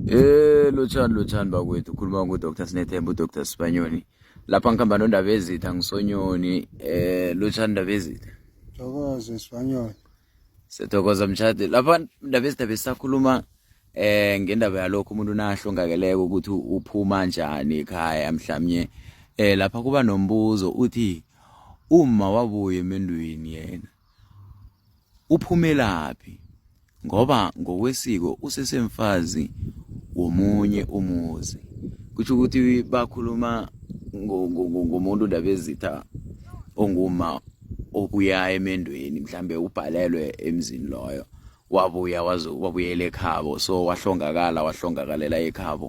Eh lotshani lotshani bakwethu ukhuluma ngoDr Sinethemba uDr Sibanyoni lapha ngihamba nondaba ezitha ngisonyoni eh lotshani ndaba ezitha Thokoze Sibanyoni Sithokoza mshadi lapha ndaba ezitha besakhuluma eh ngendaba yalokho umuntu nahlongakeleke ukuthi uphuma njani ekhaya mhlawumnye eh lapha kuba nombuzo uthi uma wabuya emendweni yena Uphumelaphi ngoba ngokwesiko usesemfazi womunye umuzi. Kusho ukuthi bakhuluma ngomuntu ndabezitha onguma obuya emendweni mhlambe ubhalelwe emzini loyo wabuya wazobuyela ekhabo so wahlongakala wahlongakalela ekhabo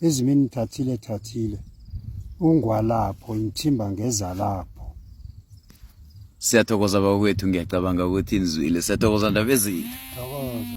Ezimini thathile thathile. Ungwalapho ngithimba ngeza lapho. Siyathokoza bakwethu ngiyacabanga ukuthi nizwile. Siyathokoza ndabezini. Thokoza.